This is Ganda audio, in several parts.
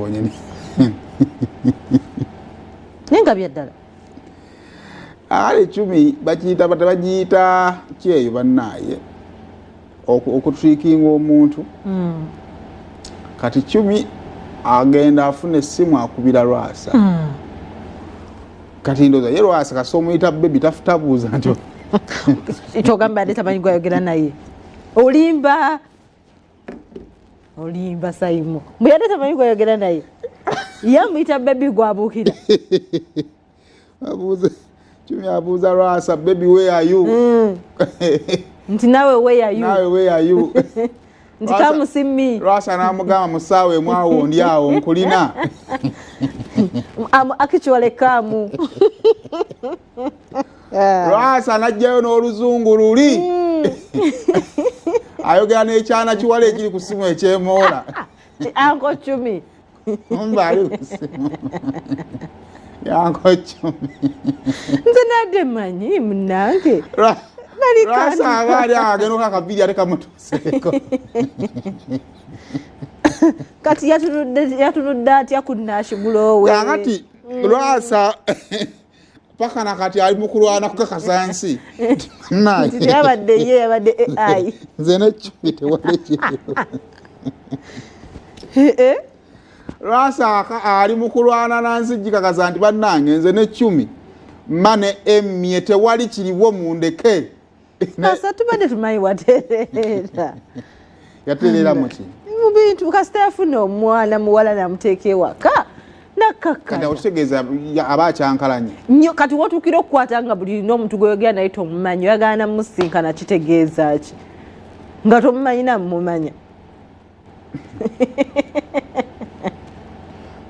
bonyini naye nga byaddala ali ecumi bakiyita bata bagiyita kyeyo bannaaye okutrikinga omuntu hmm. kati cumi agenda afuna essimu akubira lwasa hmm. kati ndoza ye lwasa kasi omuyita bebi tafutabuuza nti kyogamba ate tamanyi gwayogera naye olimba olimba saimo mbu yadde tamanyi gwayogera naye yamuyita bebi gwabuukira abuuze kimi abuuza lwasa bebi weyayu hmm. nti nawe weyayu nawe weyayu nti kamusimmi lwasa namugamba musaawa emu awo ndi awo nkulina am actually kamu Eh. lwasa najjayo n'oluzungu luli hmm. ayogera n'ekyana kiwala ekiri ku simu ekyemoola anko cumi mbaali ku simu yanko cumi nze nadde manyi munange lwasa aba ali agenda okakabiri ate kamutuseeko kati yatunudde atya ku nashigulowe kakati hmm. lwasa paka nakati ali mukulwana kukakasa nsi nayabadde ye yabadde ai nze nekibi tewali kibi eh, eh? lwasaaka ali mukulwana nansi gikakasa nti bannange nze nekyumi mane emye tewali kiriwo mundeke kasa tubadde tumanyi watereera yatereera muki mubintu kasita yafuna omwana muwala namuteeka ewaka nakakkaotegeeza aba akyankalanye nyo kati wotuukira okukwata nga buli lina omuntu gweyogera naye tomumanyi oyagana musinkana kitegeeza ki nga tomumanyi namumanya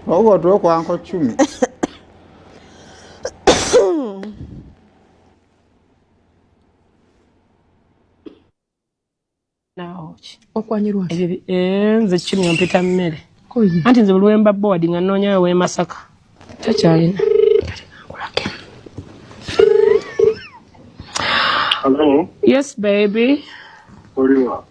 oba otuwe kwanko cumi eh, nze kimya mpita mmere anti nze bulwemba board nga noonyayo wemasaka takyalina yes baby Oliwa.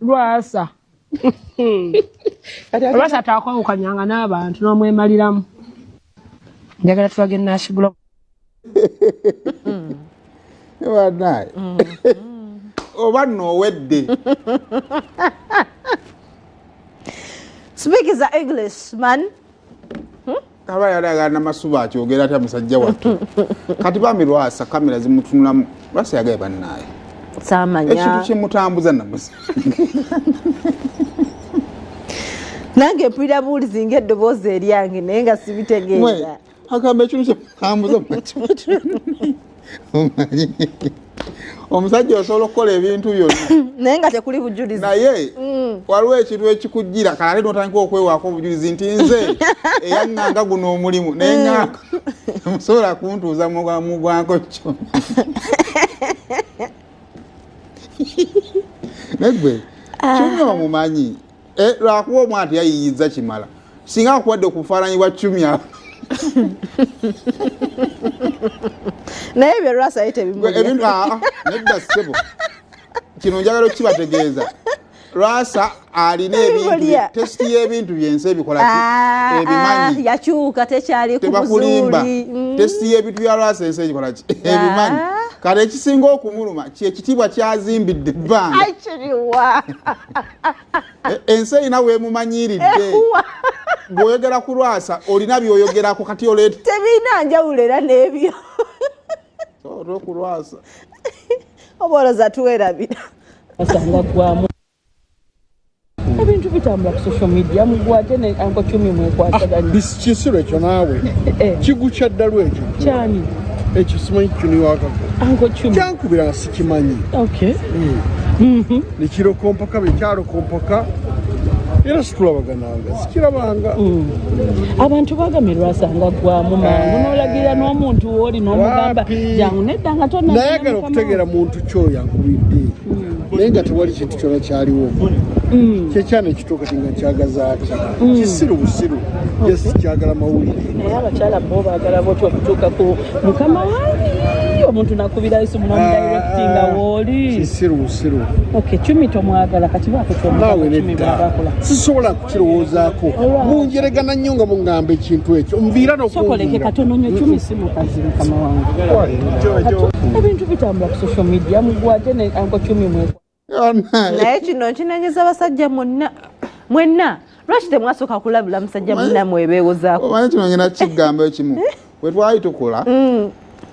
lwasa lwasa takwawukanyanga n'abantu n'omwemaliramu njagala tulage nasigula banaye mm. oba nowedde speak is english man hmm? aba yalaga namasuba akyogera atya musajja wattu kati bambi lwasa kamera zimutunulamu lwasa yagaye bannaayo samanya ekintu kimutambuza namusa nange mpulira buwulizi nga eddoboozi eryange naye nga sibitegeera agamba ekintu kyemutambuza omusajja osobola okukola ebintu byonna naye nga tekuli bujulizi naye mm. waliwo ekintu ekikujjira kalale notandika okwewaako obujulizi nti nze eyaŋŋanga guno omulimu naye mm. ŋŋanga musobola kuntuuza mugwanko kyo negwe ah. kyonna omumanyi eh, lwakuba omwana teyayiyiza kimala singa akuwadde okufaananyi bwa cumya naye ebyo lwasa ye tebimubintu ah, ah, nedda sebo kino njagala okukibategeeza lwasa alina ebintutesiti y'ebintu byensi ebikola ah, ebimanyi yakyuka tekyali kubuzuuli mm. tesiti y'ebintu bya lwasa ensi egikola ki ebimanyi kale ekisinga okumuluma kyekitiibwa kyazimbidde ebbanga E, ensi erina wemumanyiridde eh, bwoyogera ku lwasa olina byoyogerako kati oleeta tebirina njawulo era n'ebyo olwokulwasa oba oloza tuwerabira asanga gwamu ebintu bitambula ku social media mugwate ne anko cumi mwekwataganya ah, kisiru ekyo naawe eh, eh. kigu kya ddalu ekyo kyani ekyo simanyi kino wakako anko cumi kyankubira nga sikimanyi okay mm. mm-hmm. nikirokompoka bikyarokompoka era situlabagananga sikirabanga mm. abantu bagambye lwasanga gwamu mangu eh. nolagira n'omuntu wooli n'omugamba jangu nedda nga tonayagala okutegeera muntu kyoyo akubidde mm. naye nga tewali kintu kyona kyaliwo mm. kyekyana ekituuka ti nga kyagaza atya kisiru busiru yesi kyagala mawulire naye abakyala bo bagala botya okutuuka ku mukama wange omuntu nakubira yesu munomudirectinga ah, wooli kisiru busiru ok cumi tomwagala kati bakukyomubaakola sisobola kukirowoozaako munjeregana nnyo nga mungamba ekintu ekyo nviira nosokoleke katono nyo cumi si mukazi mukama wange ebintu bitambula ku social media mugwate ne anko cumi mwekwa naye kino nkinenyeza abasajja mwenna mwenna lwaki temwasooka kulabula musajja mwenna mwebeewozaako omanyi kino ngena kigambo ekimu wetwali tukula mm.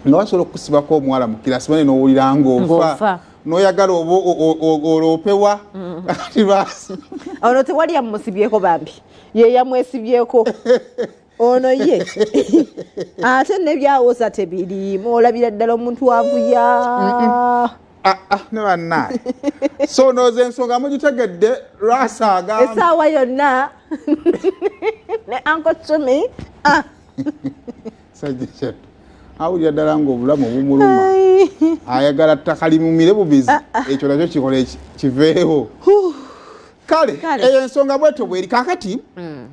nga basobola okusibako omuwala mukirasi bane nowulira ngaofa noyagala oloopewa mm. kati lwasi ono tewali yamusibyeko bambi yeyamwesibyeko ono ye ate nebyawoza tebiriimu olabira ddala omuntu wavuya Ah, ah, ne bannaye so nooza ensonga mugitegedde lwasa agamba esaawa yonna ne anko cumi ah. sajja awulira ddala ngaobulamu obumuluma ayagala ttaka limumire bubizi ekyo nakyo kikola kiveewo kale eyo ensonga bwetyo bweri kakati mm.